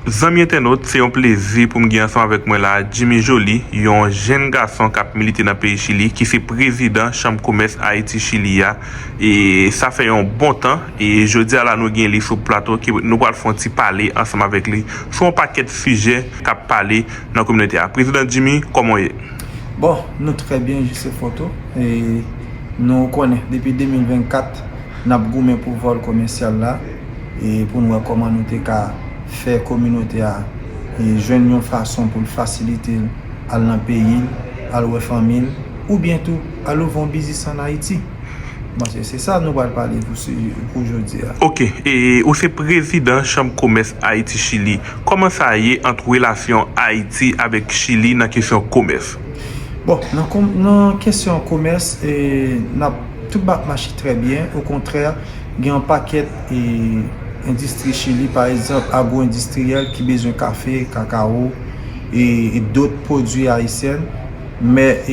Zanmi entènot, se yon plezi pou m gen ansanm avèk mwen la a Jimmy Joly, yon jenn gason k ap milite nan peyi Chili, ki se prezidan chanm komès Ayiti-Chili a, e sa fè yon bon tan, e jodi a la nou gen li sou plato ke nou pral fè yon ti pale ansanm avèk li sou yon pakèt sijè k ap pale nan kominote a. Prezidan Jimmy, kòman w ye? Bon, nou trè byen jis e foto, e nou konnen depi 2024 n ap goumen pou vòl komèsyal la. e pou n wè kòman nou te ka fè kominote a jwenn yon fason pou l fasilite l al nan peyi l, al wè fanmi l, oubyen tou al ouvri yon biznis an Ayiti. M panse se sa nou pral pale pou jodi a. Ok, e ou se prezidan chanm komès Ayiti Chili, kòman sa ye ant relasyon Ayiti avèk Chili nan kesyon komès? Bon, nan kesyon komès, tout ba ap mache trè byen, okontrè. Gen yon pakèt endistri Chili, pa egzanp, agwo-endistriyèl ki bezwen kafe, kakawo e dot pwodwi ayisyen. Men,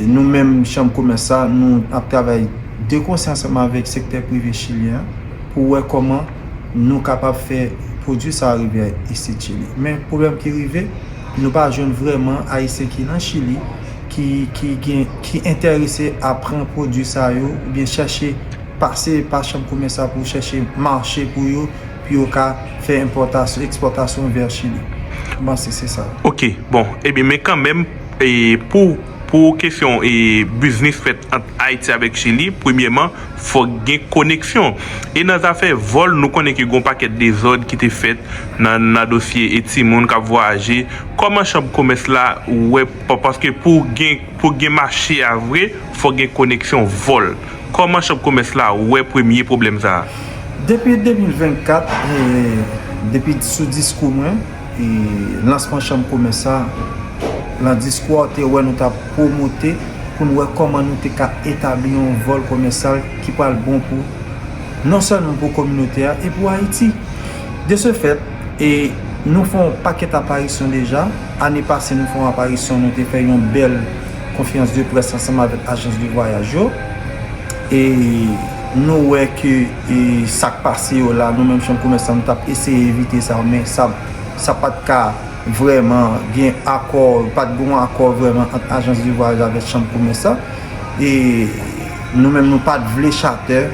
nou menm chanm komès sa, nou ap travay de konsè ansanm avèk sektè prive chilyen an pou wè kòman nou kapab fè pwodwi sa a rive isit Chili. Men, pwoblèm ki rive, nou pa jwenn vrèman ayisyen ki nan Chili ki enterese a pran pwodwi sa yo ou byen chache pase pa chanm komès la pou chache mache pou yo pou yo ka fè enpòtasyon ekspòtasyon vè chili m panse se sa. Ok bon ebyen men kanmenm pou kesyon biznis fèt ant ayiti avèk chili premyèman fòk gen koneksyon e nan zafè vòl nou konnen ke gen yon pakèt dezòd ki te fèt nan dosye timoun kap vwayaje kòman chanm komès la wè Paske pou w gen mache a vre, fòk gen koneksyon vòl. Kòman chanm komès la wè premye pwoblèm sa a? Depi 2024, depi sou diskou mwen, lansman chanm komès sa, lan diskou a ou te wè nou ta pwomote pou n wè kòman nou te ka etabli yon vòl komèsyal ki pral bon pou non sèlman pou kominote a e pou Ayiti. De se fèt. E nou fè yon pakèt aparisyon deja. Ane pase nou fè yon aparisyon, nou te fè yon bèl konferans de près ansanm avèk ajans de vwayaj yo. E nou wè ke sa k pase yo la, nou menm chanm komès la nou t ap eseye evite sa men sa pa t ka vrèman gen akò, pa t gen yon akò vrèman ant ajans de vwayaj avèk chanm komès la. E nou menm nou pa t vle chatè.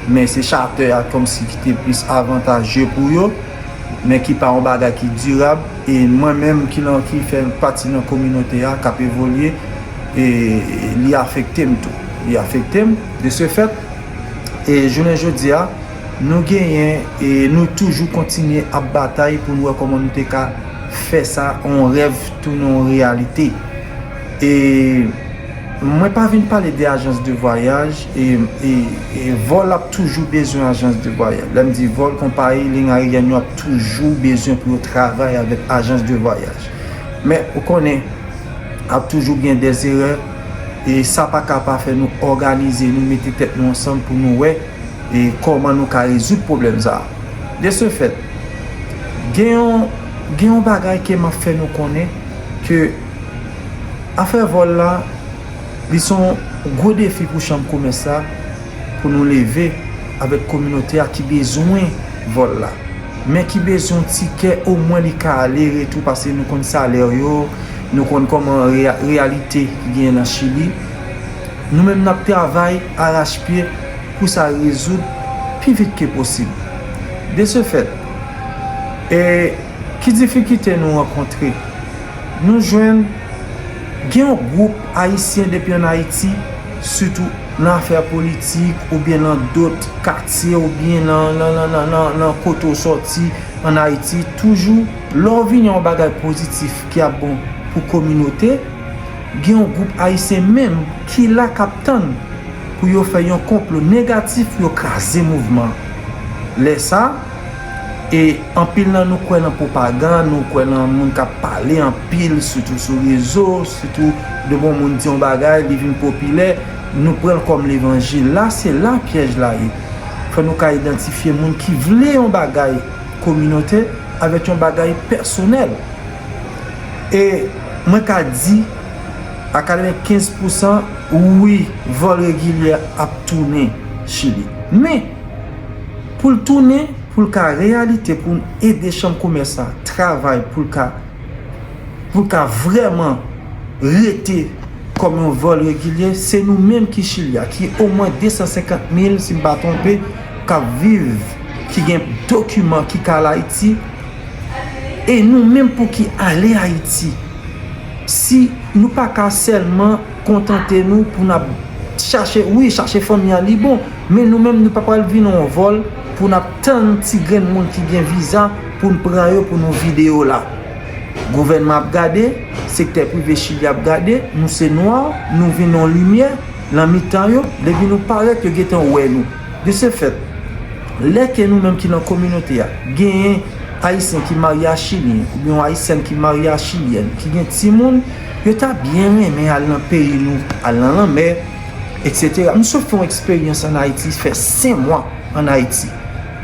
men se charter a kòmsi ki te plis avantaje pou yo, men ki pa yon bagay ki dirab, e mwen menm ki lan ki fè pati nan kominote a kap evolye e li afekte m tou, li afekte m, de se fèt e jounen jodi a nou genyen e nou toujou kontinye ap batay pou nou wè kòman nou te ka fè sa yon rèv tounen yon reyalite e. Mwen pa vin pale de ajans de vwayaj e vòl ap toujou bezwen ajans de vwayaj. Lè m di vòl konpayi liy ayeryèn yo ap toujou bezwen pou yo travay avèk ajans de vwayaj. Men ou konnen ap toujou gen de zerè e sa pa ka pa fè nou òganize nou mete tèt nou ansanm pou nou wè e kòman nou ka rezoud pwoblèm sa a. De se fèt, gen yon gen yon bagay ke m ap fè nou konnen ke. Afè vòl la, li son gwo defi pou chanm komès la pou nou leve avèk kominote a ki bezwen vòl la, men ki bezwen yon ti kè omwen li ka ale retou pase nou konn salè yo, nou konn kòman reyalite ki genyen nan Chili. Nou menm nap travay arachpye pou sa rezoud pi vit ke posib. De se fèt, e. Ki difikite nou rankontre? Nou jwenn gen yon gwoup Ayisyen depi an Ayiti, sitou nan afè politik oubyen nan dot katye oubyen nan kote ou soti an Ayiti, toujou lè w vini yon bagay pozitif ki ap bon pou kominote, gen yon gwoup Ayisyen menm ki la k ap tann pou yo fè yon konplo negatif pou yo kraze mouvman an. Lè sa. E anpil nan nou kwè nan pwopagann, nou kwè nan moun k ap pale anpil, sitou sou rezo, sitou de bon moun di yon bagay, li vin popilè, nou pran l kòm levanjil. La se la pyèj la ye. Fò nou ka idantifye moun ki vle yon bagay kominote avèk yon bagay pèsonèl. E mwen ka di a katrevenkenz pousan, wi, vòl regilyè ap tounen Chili. Men! pou l tounen pou l ka reyalite pou n ede chanm komès la travay pou l ka pou l ka vrèman rete kòm yon vòl regilye se nou menm ki chili a ki omwen 250 mil si m pa twonpe k ap viv ki gen dokiman ki ka al ayiti e nou menm pou ki ale ayiti si nou pa ka sèlman kontante nou pou n ap chache wi chache fanmi an li bon. Men nou menm nou pa pral vin on vòl pou nap tann ti grenn moun ki gen viza pou n pran yo pou nou vide yo la. Gouvènman ap gade, sektè prive Chili ap gade, nou se nwa, nou vin on limyè lan mitan yo, depi nou parèt yo gentan wè nou. De se fèt, lè ke nou menm ki lan kominote a, genyen Ayisyen ki marye a Chilyen, ou byen on Ayisyèn ki marye a Chilyèn, ki gen ti moun, yo ta byen renmen al lan peyi nou, al lan lanmè, etc. M sot fè yon eksperyans an Ayiti, fè 5 mwa an Ayiti.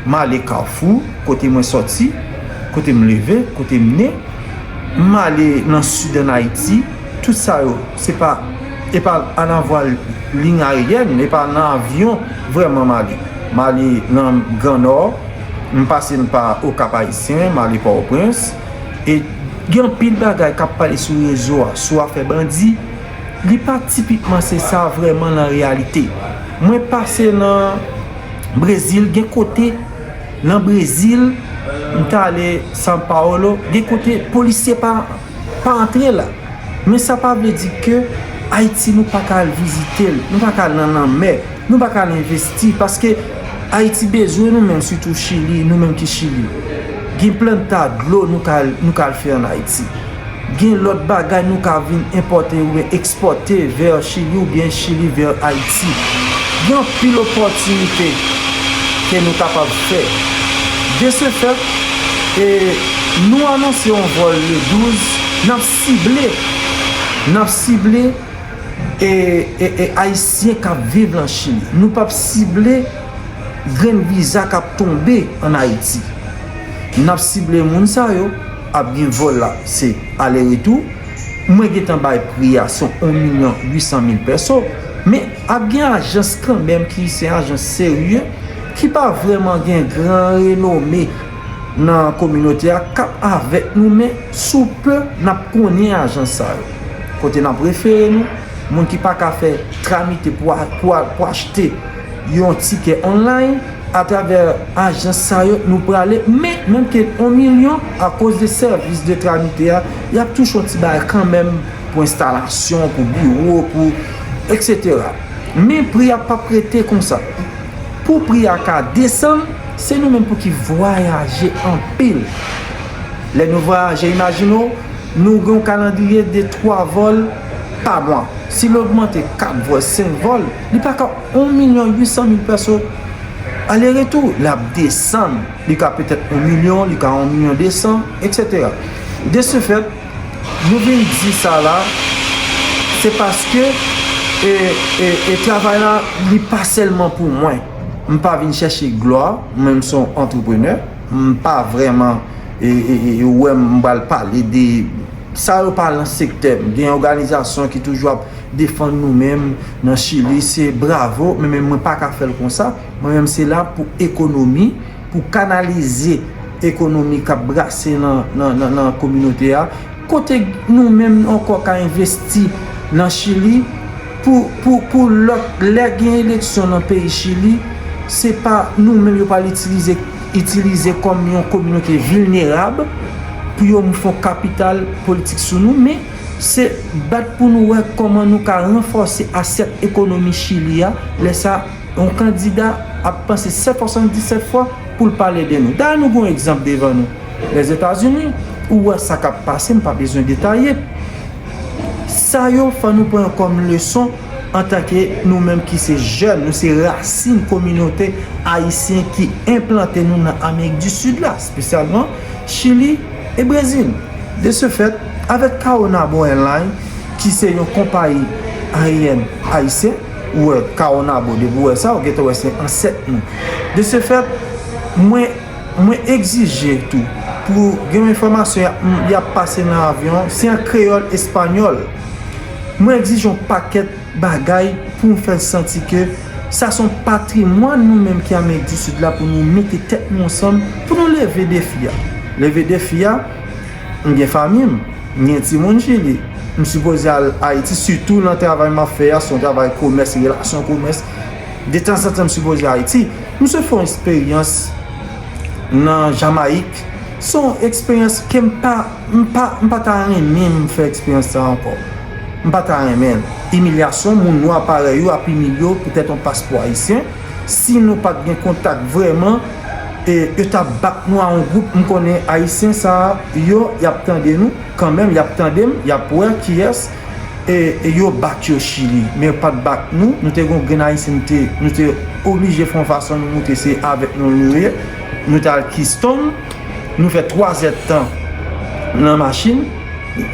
M ale Kafou, kote mwen soti, kote m leve, kote m ne. M ale nan Sid an Ayiti. Tout sa yo, se pa, e pa an avwal liy aeryèn, e pa nan avyon vrèman m ale. M ale nan Gran Nò, m pase m pa Okap Ayisyen, m ale Pòtoprens. E gen anpil bagay k ap pale sou rezo a, sou afè bandi. Li pa tipikman se sa vrèman lan reyalite. Mwen pase lan Brezil, gen kote lan Brezil, m ta ale San Paolo, gen kote polisye pa antre la. Men sa pa vle di ke Ayiti nou pa ka al vizite l, nou pa ka al lan lanmè. Nou pa ka al envesti paske Ayiti bezwen nou menm sitou Chili, nou menm ki Chili. Gen planta dlo nou ka al nou ka al fè an Ayiti. Gen lòt bagay nou ka vin enpòte oubyen ekspòte vè Chili oubyen Chili vè Ayiti. Gen anpil opòtinite ke nou kapab fè. De se fèt, e nou anonse yon vòl le 12, n ap sible, n ap sible. E Ayisyen k ap viv lan Chili. Nou p ap sible grenn viza k ap tonbe an Ayiti. N ap sible moun sa yo. Ap gen vòl la, se ale retou. Mwen gen tan bay pri a, se yon milyon ui san mil pèso. Men, ap gen ajans kanmenm ki se ajans serye, ki pa vrèman gen gran renome. nan kominote a kap avèk nou men sou pe nap konnen ajans sa yo kote nap refere nou moun ki pa ka fè tramite pou achte yon tikè online atravè ajans sa yo nou prale men menm ke on milyon akoz de sèvis de tramite a yap touche yon ti bagay kanmenm pou enstalasyon pou biwo pou eksetera men pri a pap rete konsa Pou pri a ka desann, se nou menm pou ki vwayaje anpil. Lè nou vwayaje, imajine w, nou gen yon kalandriye de 3 vòl pa mwa. Si l ogmante 4 vòl, 5 vòl, li pa ka 1 milyon 800 mil pèso ale retou. L ap desann, li ka petèt 1 milyon, li ka 1 milyon 200, eksetera. De se fèt. Nou vin di sa la, se paske e travay la li pa sèlman pou mwen. M pa vin chèche glwa, mwen m son antreprenè, m pa vrèman wè m pral pale de sa yo pa lan sektè m. Gen òganizasyon ki toujou ap defann nou menm nan chili, se bravo, men mwen pa ka fè l konsa. Mwen menm se la pou ekonomi. pou kanalize ekonomi k ap brase nan kominote a, kote nou menm ankò ka envesti nan Chili pou lè gen eleksyon nan peyi Chili, se pa nou menm yo pral itilize kòm yon kominote vilnerab pou yo fè yon kapital politik sou nou, men se bat pou nou wè kòman nou ka ranfòse asyèt ekonomi Chili a, lè sa. Yon kandida ap panse 777 fwa pou l pale de nou. Dayè nou gen yon egzanp devan nou, Lèzetazini, ou wè sa k ap pase, m pa bezwen detaye. Sa yo fò nou pran yo kòm leson antanke nou menm ki se jèn, nou se rasin kominote ayisyen ki enplante nou nan Amerik di Sid la, espesyalman Chili e Brezil. De se fèt, avèk Caonabo Airlines, ki se yon konpayi aryèn ayisyen, ou wè Caonabo, depi ou wè sa, ou gentan wè se ansèt nou. De se fèt, mwen, mwen egzije tou, pou gen yon enfòmasyon y ap, y ap pase nan avyon, se an kreyòl espanyòl. Mwen egzije yon pakèt bagay pou m fè l santi ke sa se yon patrimwàn nou menm ki Amerik di Sid la pou nou mete tèt nou ansanm, pou nou leve defi a. Leve defi a, M gen fanmi m, m gen timoun Chili. M sipoze al Ayiti, sitou nan travay m ap fè a, se yon travay komès, relasyon komès. Detanzantan m sipoze al Ayiti. M sot fè yon eksperyans nan Jamayik. Se yon eksperyans ke m pa, m pa, m pa ta renmen m fè eksperyans sa ankò. M pa ta renmen l. Imilyasyon moun nwa parèy ou ap imilye w poutèt yon paspò ayisyen, si nou pa t gen kontak vrèman, e yo tap bat nou a yon group m konnen ayisyen sa yo yap tande nou kanmenm yap tande m yap wè kiyès e yo bat yo chili men yo pat bat nou nou te gon grenn ayisyen nou te nou te oblije fon fason nou moute se avèk nou nou ye nou tal kiston nou fè 3 zè tan nan machin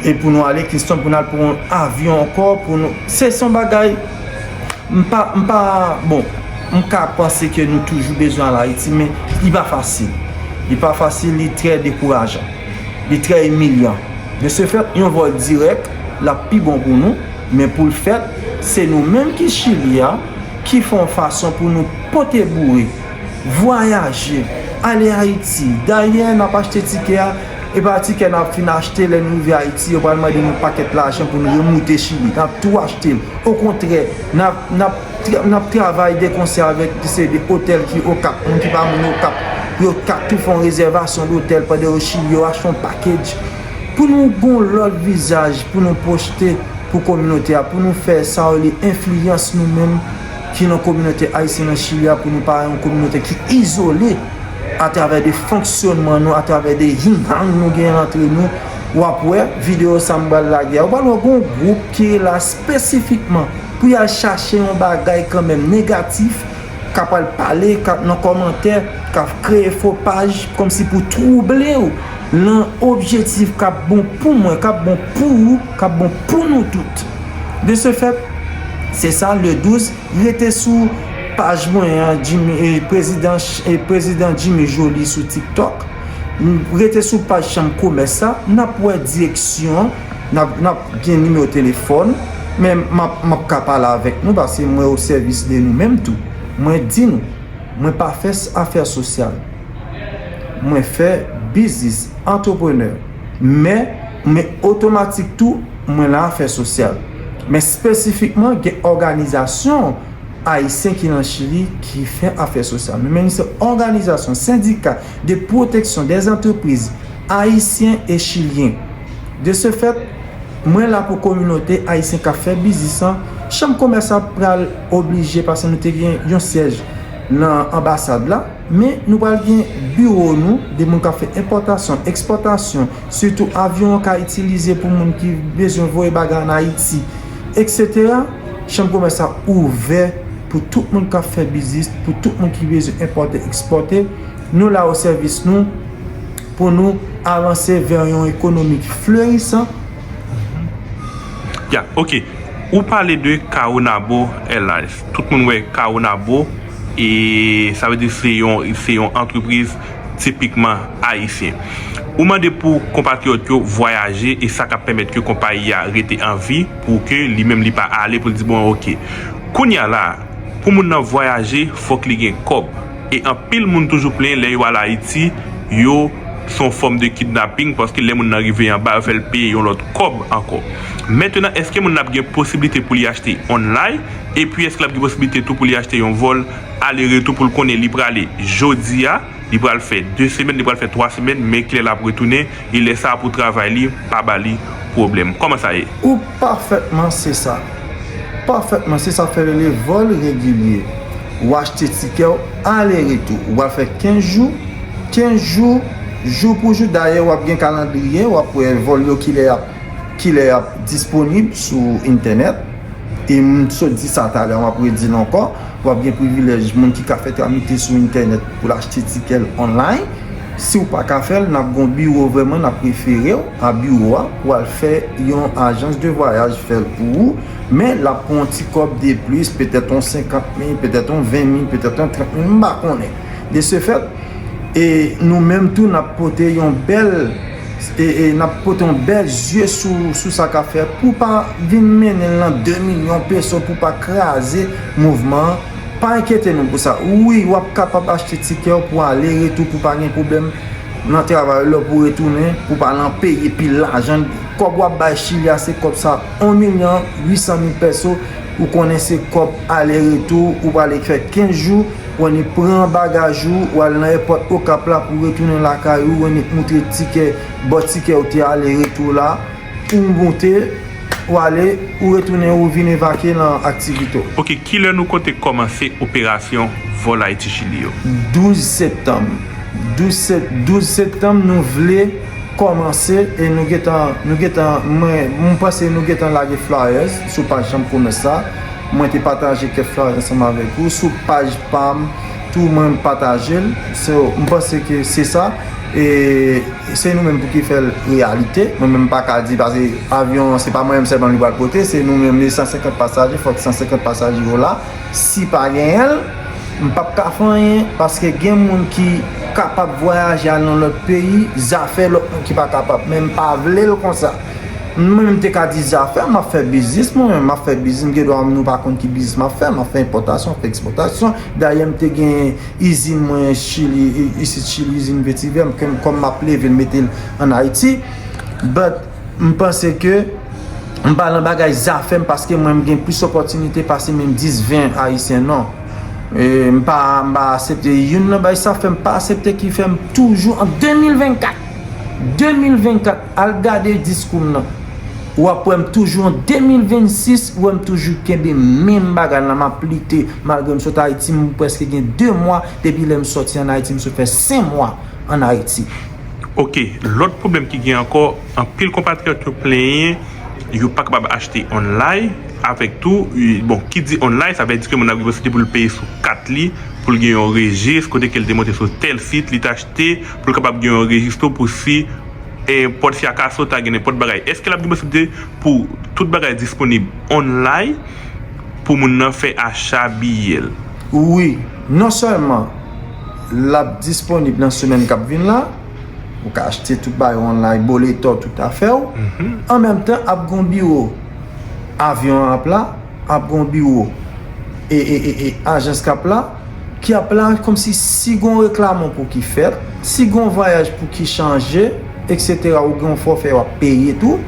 e pou nou ale kiston pou nou al pran yon avyon ankò pou nou se son bagay. Mpa, mpa, bon, mka panse ke nou toujou bezwen al Ayiti, men li pa fasil. Li pa fasil, li trè dekourajan. Li trè imilyan. De se fèt, yon vòl dirèk, lap pi bon pou nou, men poul fèt, se nou menm ki Chili a, ki fè yon fason pou nou pote boure, vwayaje, ale Ayiti. Dayè, nap achte tikè a. Epa tikè nap fin achte lè n rive Ayiti yo pral mande n yon pakèt lajan pou n remoute Chili. Nap tou achte l. Okontrè, nap nap travay de konsè avèk yon seri de otèl ki Okap. Moun ki pa moun Okap yo ka tou fè yon rezèvasyon dotèl pandan yo Chili, yo achte yon pakedj pou nou gen yon lòt vizaj pou nou pwochte pou kominote a, pou nou fè sa yo rele enfliyans nou menm. ki nan kominote ayisyen nan Chili a pou nou pa yon kominote ki izole atravè de fonksyonman nou, atravè de hing-hang nou gen antre nou. W ap wè videyo sa m pral lage a. Ou pral wè gen yon gwoup ki la espesifikman pou y al chache yon bagay kanmenm negatif, k ap al pale nan kòmantè, k ap kreye fo paj kòmsi pou twouble w nan objetif k ap bon pou mwen, k ap bon pou ou, k ap bon pou nou tout. De ce fait, se sa le 12, rete sou paj mwen an Prezidan Jimmy Joly sou TikTok, rete sou paj chanm komès sa, n ap wè direksyon, n ap gen nimewo telefòn, men m ap ka pale avèk nou paske mwen o sèvis de nou menm tou. Mwen di nou, mwen pa fè afè sosyal, mwen fè biznis, antreprenè. Men, men otomatik tou, mwen la fè sosyal. Men spesifikman gen òganizasyon Ayisyen ki lan Chili ki fè afè sosyal. Men men se òganizasyon, sendika de pwoteksyon dè antrepriz Ayisyen e Chilyen. De se fèt, mwen la pou kominote Ayisyen k ap fè biznis lan. Chanm komès la pral oblije, pase nou te gen yon syèj lan anbasad la. Men, nou pral gen biwo nou, de moun k ap fè enpòtasyon, ekspòtasyon, sitou avyon an ka itilize pou moun ki bezwen voye bagay ann Ayiti, eksetera. Chanm komès la ouvè pou tout moun k ap fè biznis, pou tout moun ki bezwen enpòte, ekspòte. Nou la osèvis nou pou nou avanse vè yon ekonomi ki flerisan. Ya, ok. Ou pale de Caonabo Airlines. Tout moun wè Caonabo e sa vle di se yon antrepriz tipikman ayisyen. Ou mande pou konpatriyòt yo vwayaje e sa k ap pèmèt ke konpayi a rete an vi pou ke li menm li pa ale pou l di bon ok. Kounye a la a, pou moun nan vwayaje fòk li gen kòb e anpil moun toujou plenyen lè yo al Ayiti yo se yon fòm de kidnaping paske lè moun nan rive anba yo fè l peye yon lòt kòb ankò. Mentenan eske moun nan ap gen posiblite pou li achte online epi eske lap gen posiblite tou pou li achte yon vol ale retou poul konnen li prale jodia li pral fè 2 semèn li pral fè 3 semèn men kilè lap retounen e lè sa pou travay li pa bali pwoblèm kòman sa ye. Ou pafètman se sa pafètman se sa fè rele vol regilye ou achte tikèw ale retou ou pral fè 15 jou 15 jou jou pou jou dayè wap gen kalandriye wap wè vol yo kilè yap Kilè yap disponib sou entènèt? E m sot di sa talè map redi l ankò, wap gen privilèj moun ki ka fè tramite sou entènèt pou l achte tikè l online. Si w pa ka fè l, nap gen yon biwo vrèman nap refere w a biwo a pou al fè yon ajans de vwayaj fè l pou ou, men lap pran yon ti kòb deplis, petèt yon 50 mil, petèt yon 20 mil, petèt yon 30 mil, m pa konnen. De se fèt, e nou menm tou nap pote yon bèl. E nap pote yon bèl zye sou sa kap fèt pou pa vin mennen l nan 2 milyon peso pou pa kraze mouvman an. Pa enkyete nou pou sa. Wi, w ap kapab achte tikè w pou ale retou pou pa gen pwoblèm nan travay ou lè w pou retounen pou pa al an peye pil lajan. Kòb w ap bay Chili a se kòb sa, 1 milyon 800 mil peso. Ou konnen se kòb ale retou ou prale fè 15 jou. Wanick pran bagaj ou, ou al nan èpòt Okap la pou retounen lakay ou, Wanick moutre tikè bò tikè ou te ale retou la, ou moute, ou ale, ou retounen ou vin evakye lan aktivite w. Ok, kilè nou konte kòmanse operasyon vòl Ayiti Chili yo? 12 septanm, 12 sept, 12 septanm nou vle kòmanse e nou gentan, nou gentan, mwen, mwen panse nou gentan lage flyers sou paj chanm komès la. Mwen te pataje kèk fraz ansanm avèk ou sou paj pam tou mwen patajel so m panse ke se sa e se nou menm pou ki fèl reyalite mwen menm m paka di paske avyon an se pa mwen menm sèlman li pral pote se nou menm li 150 pasaje fòk 150 pasaje yo la si pa genyenl m pap ka fè anyen paske gen moun ki kapab vwayaje al nan lòt peyi zafè lòt moun ki pa kapab men m pa vlel konsa. Mwen menm te ka di zafè m ap fè biznis mwen menm, m ap fè biznis m gen dwa nou pa konn ki biznis m ap fè, m ap fè enpòtasyon, m ap fè ekspòtasyon. Dayè m te gen izin mwen Chili, isit Chili, izin vetivè m kòm m ap leve l mete l an Ayiti. But m panse ke m pa lan bagay zafè m paske mwen m gen plis opòtinite pase menm 10, 20 ayisyen non. M pa asepte youn nan bagay sa fè m pa asepte ki fè m toujou an 2024, 2024! Al gade diskou m nan. Ou ap wè m toujou an 2026, wè m toujou kenbe menm bagay la, m ap lite malgre m sot Ayiti, m prèske gen 2 mwa depi lè m sòti an Ayiti, m sot fè 5 mwa an Ayiti. Ok, lòt pwoblèm ki gen ankò, anpil konpatriyòt yo plenyen yo pa kapab achte onlay, avèk tou, bon, ki di onlay, sa vle di ke moun nan gen posiblite pou l peye sou kat li, pou l gen yon rejis, kote ke l te monte sou tèl sit, li te achte, pou l kapab gen yon rejis tou pou si. e pòt fi a ka sote ak gen nenpòt bagay. Èske l ap gen posiblite pou tout bagay disponib onlay pou moun nan fè acha biyè l? Wi. Non sèlman l ap disponib nan semèn k ap vin la, ou ka achte tout bagay onlay, boletò, tout afè w, an menm tan ap gen yon biwo avyon an ap la. ap gon biwo e e e e ajans kap la ki ap la komsi si gon reklamon pou ki fèt si gon vwayaj pou ki chanje etc ou gen yon fòfè wap peye tou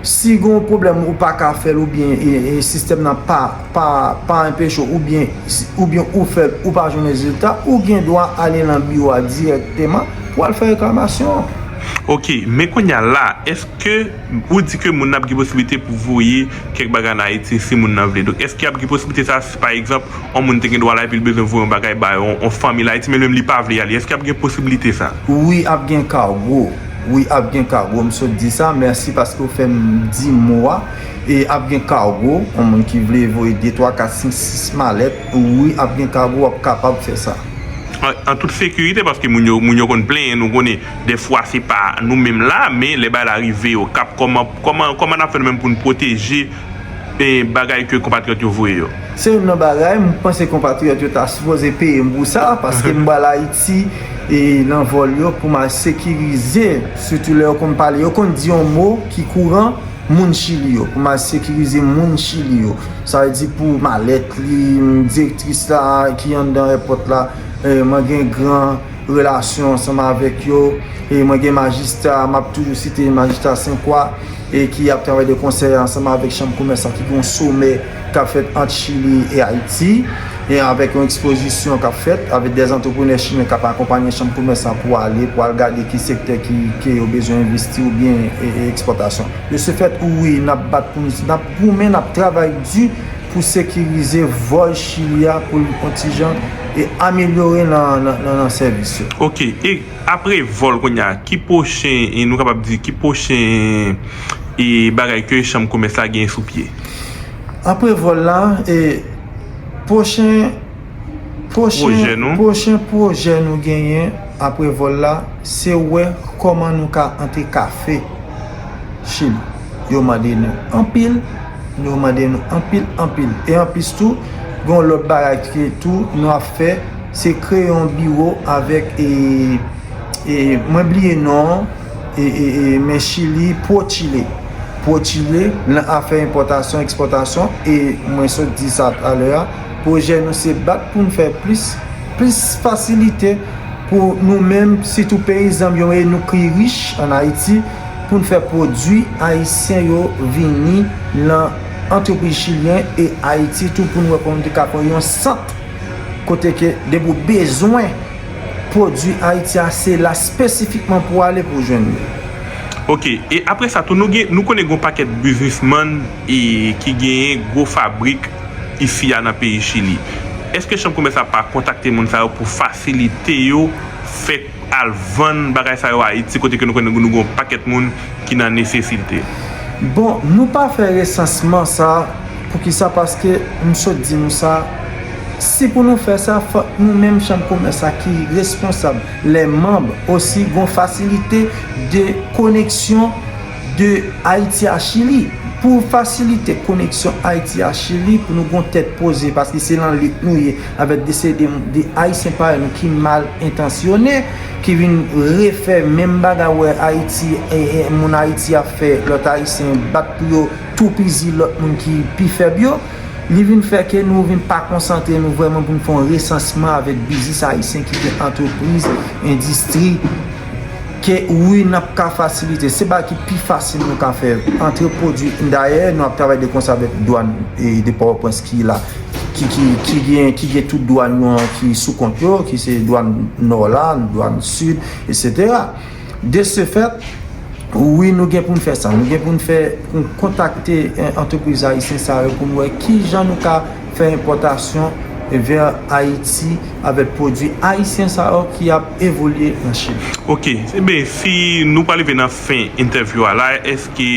si gon pwoblèm ou pa ka fèl ou byen e e sistèm nan pa pa pa enpeche w ou byen ou byen ou fèl ou pa jwenn rezilta ou gen dwa ale lan biwo a dirèkteman pou al fè reklamasyon an. Ok men kounya la eske. Ou di ke moun nan ap gen posiblite pou voye kèk bagay ann Ayiti si moun nan vle. Donk, èske y ap gen posiblite sa a si pa egzanp yon moun te gen dwa la epi li bezwen voye yon bagay ba yon fanmi l Ayiti men li menm li pa vle ale? Èske y ap gen posiblite sa a? Wi ap gen kargo. Wi ap gen kargo. M sot di sa. Mèsi paske w fè m di mo a. E ap gen kargo. Yon moun ki vle voye de, twa, kat, senk, sis malèt, wi ap gen kargo, w ap kapab fè sa. An tout sekirite paske moun yo konn plenyen nou konnen. Dè fwa se pa nou menm la, men lè bagay la rive yo, kap kòman, kòman, kòman nap fè nou menm pou nou pwoteje e bagay ke konpatriyòt yo voye yo? Se youn nan bagay m panse konpatriyòt yo ta sipoze peye m pou sa, paske m bal Ayiti e nan vòl yo pou m al sekirize, sitou lè yo konn pale, yo konn di yon mo ki kouran, moun Chili yo, pou m al sekirize moun Chili yo. Sa vle di pou malèt li, direktris la ki anndan èpòt la, mwen gen gran. relasyon ansanm avèk yo e mwen gen majistra map toujou site majistra senkwa e ki ap travay de konsèy ansanm avèk chanm komès la ki gon somè kap fèt ant chili e ayiti e avèk yon ekspozisyon kap fèt avèk dè antreprenè chinè kap akonpanye chanm komès la pou ale pou al gade ki sektè ki ke yo bezwen envesti ou byen e ekspòtasyon. De se fèt wi nap bat pou nou nap goumen nap travay di. pou sekirize vòl Chili a pou l kontijan e amelyore nan sèvis yo. Ok, e apre vòl kounye a, ki pwochen, e nou kapab di, ki pwochen e bagay ke chanm komès la genyen sou pye? Apre vòl la, e pwochen, pwochen, pwochen pwojè nou genyen apre vòl la, se wè kòman nou ka antre kafe Chili. Yo mande nou anpil, Nou mande nou anpil anpil. E anplis tou, gen yon lòt bagay ke tou nou ap fè, se kreye yon biwo avèk e, e, mwen bliye non an, e, e, e, men Chili, Prochile. Prochile nan afè enpòtasyon, ekspòtasyon, e mwen sot di sa talè a, pwojè nou se bat pou nou fè plis, plis fasilite pou nou menm, sitou peyizan m yo e nou ki rich an Ayiti. poun fè pwodwi ayisyen yo vini nan antrepriz chilyen e ayiti tou poun wè kòman nou te ka pran yon sant kote ke depi ou bezwen pwodwi ayiti a se la spesifikman pou ale pou jwenn li. Ok e apre sa tou nou gen nou konnen gen yon pakèt biznismann e ki genyen gwo fabrik isi a nan peyi chili eske chanm komès la pa kontakte moun sa yo pou fasilite yo fè al vann bagay sa yo Ayiti kote ke nou konnen nou gen yon pakèt moun ki nan nesesite. Bon nou pa fè resansman sa poukisa paske m sot di nou sa si pou nou fè sa fòk nou menm chanm komès la ki responsab lè manb osi gon fasilite de koneksyon de Ayiti a Chili pou fasilite koneksyon Ayiti a Chili pou nou gon tèt poze paske se lan lit nou ye Avèk desede 2 Ayisyen parèy nou ki mal entansyone, ki vin refè menm bagay wè Ayiti, moun Ayiti ap fè lòt Ayisyen bat pou yo toupizi lòt moun ki pi fèb yo, li vin fè ke nou vin pa konsantre nou vrèman pou nou fè yon resansman avèk biznis Ayisyen ki gen antrepriz, endistri, ke wi n ap ka fasilite. Se bagay ki pi fasil nou ka fè, antre pwodui. Dayè, nou ap travay de konsè avèk dwàn de Pòtoprens ki la. ki gen tout dwan yo an ki sou kont yo, ki se dwan nò la, dwan sid, etsetera. De se fèt, wi nou gen pou n fè sa. Nou gen pou n fè, pou n kontakte antrepriz ayisyen sa yo pou n wè ki jan nou ka fè enpòtasyon vè Ayiti avèk pwodui ayisyen sa yo ki ap evolye an Chin. Ok. Enben, si nou pa rive nan fen entèvyou a la, èske.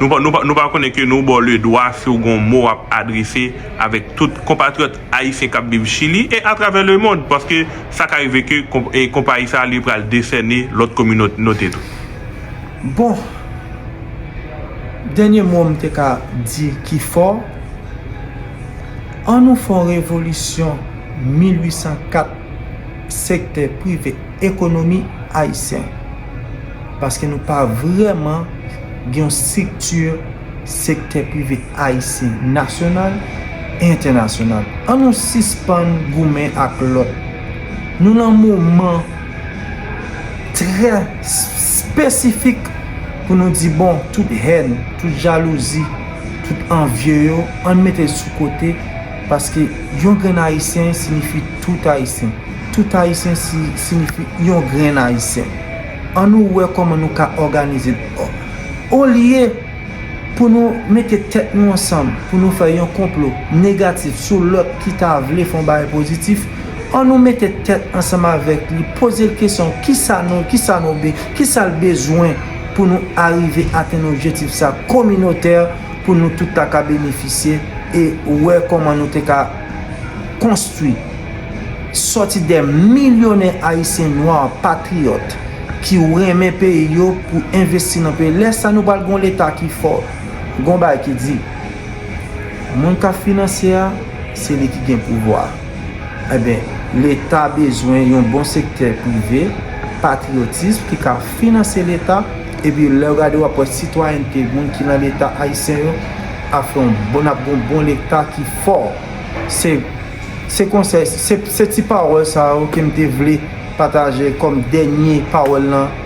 Nou pa konnen ke nou ba w le dwa si w gen yon mo w ap adrese avèk tout konpatriyòt ayisyen k ap viv Chili e atravè lemond, paske sa ka rive ke konpayi sa a li pral desène lòt kominote tou. Bon, dènye mo m te ka di ki fò, an nou fè yon revolisyon 1804 sektè prive ekonomi ayisyen. Paske nou pa vrèman gen yon strikti sektè prive ayisyen nasyonal e entènasyonal. An nou sispann goumen ak lòt. Nou lan moman trè spesifik pou nou di bon tout hèn, tout jalouzi, tout anvye yo an mete l sou kote paske yon grenn ayisyen sinifi tout ayisyen. Tout Ayisyen sinifi yon grenn Ayisyen. An nou wè kòman nou ka òganize olye pou nou mete tèt nou ansanm pou nou fè yon konplo negatif sou lòt ki ta vle fè yon bagay pozitif, an nou mete tèt ansanm avèk li poze l kesyon kisa nou kisa nou be kisa l bezwen pou nou arive atenn objetif sa kominotè pou nou tout ta ka benefisye e wè kòman nou te ka konstwi sòti dè milyonè ayisyen nwa patriyòt ki renmen peyi yo pou envesti nan peyi lè sa nou pral gon leta ki fò gon bagay ki di moun kap finansye a se li ki gen pouvwa enben leta bezwen yon bon sektè prive patriyotism ki ka finanse leta epi lèw gade wap wè sitwayènte moun ki nan leta ayisyen yo. ap fè yon bon ap gen yon bon leta ki fò se se konsèy se ti pawòl sa yo ke m te vle pataje kòm dènye pawòl nan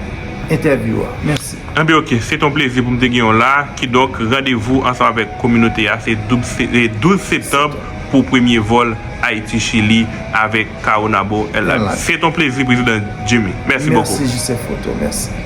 entèvyou a mèsi. Enben ok, se te yon plezi pou m te genyen w la, kidonk randevou ansanm avèk kominote a se 12 septanb pou premye vòl Ayiti-Chili avèk Caonabo Airline. Se te yon plezi Prezidan Jimmy. Mèsi bokou. Mèsi JC Photo. Mèsi.